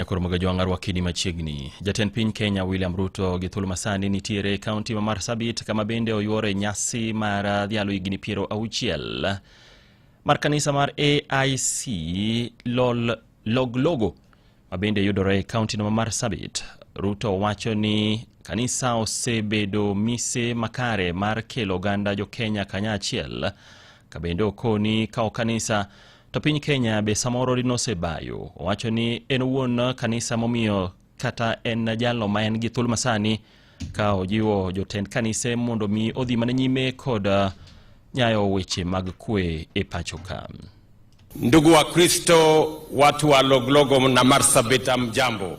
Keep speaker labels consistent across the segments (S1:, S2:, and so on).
S1: E koro moga jwang'a rwakini machiegni. Jatend piny Kenya William Ruto gi thuolo masani nitiere e kaunti ma Marsabit kama bende oyuore nyasi mar uh, dhialo higni piero auchiel mar kanisa mar AIC lol loglogo ma bende yudore e kaunti no ma Marsabit. Ruto wacho ni kanisa osebedo mise makare mar kelo oganda jo Kenya kanyachiel kabende okoni kawo kanisa To piny Kenya be samoro dino osebayo, owacho ni en wuon kanisa momiyo kata en jalo ma en gi thul masani ka ojiwo jotend kanise mondo mi odhi mana nyime kod uh, nyayo weche mag kwe e pacho ka. Ndugu
S2: wa Kristo, watu wa Loglogo na Marsabit, mjambo.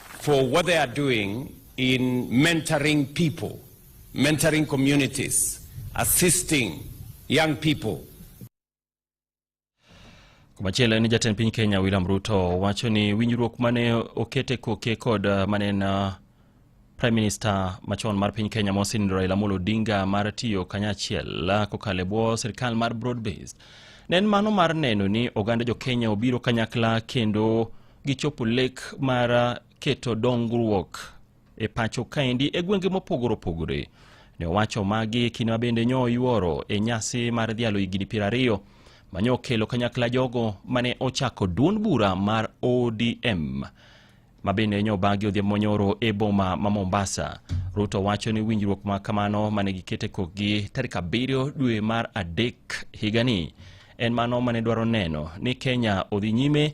S2: for what they are doing in mentoring people, mentoring communities, assisting young people.
S1: Machielo en jatend piny Kenya William Ruto wacho ni winjruok mane okete koke kod uh, mane na uh, Prime Minister machon mar piny Kenya Mosin Raila Amolo Odinga mar tiyo kanyachiel uh, kokale bwo sirkal mar broad based ne en mano mar neno ni oganda jo Kenya obiro kanyakla kendo gichopo lek mar uh, keto dongruok e pacho kaendi e gwenge mopogore opogore. Ne owacho magi kinde ma bende nyo yuoro e nyasi mar dhialo higni piero ariyo ma nyo okelo kanyakla jogo mane ochako duond bura mar ODM ma bende nyo bagi odhiambo monyoro e boma ma Mombasa. Ruto wacho ni winjruok ma kamano mane gikete kokgi tarik abiriyo dwe mar adek higani en mano mane dwaro neno ni Kenya odhi nyime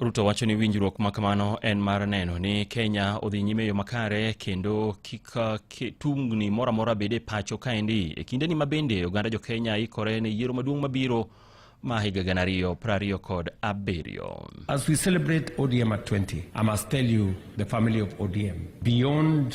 S1: Ruto wacho ni winjruok ma kamano en mar neno ni Kenya odhi nyime yo makare kendo kik tungni moro amora bed e pacho kaendi e kindeni ma bende oganda jo Kenya ikore ne yiero maduong' mabiro ma higa gana ariyo piero ariyo kod abiriyo. As we celebrate
S3: ODM at 20, I must tell you the family of ODM beyond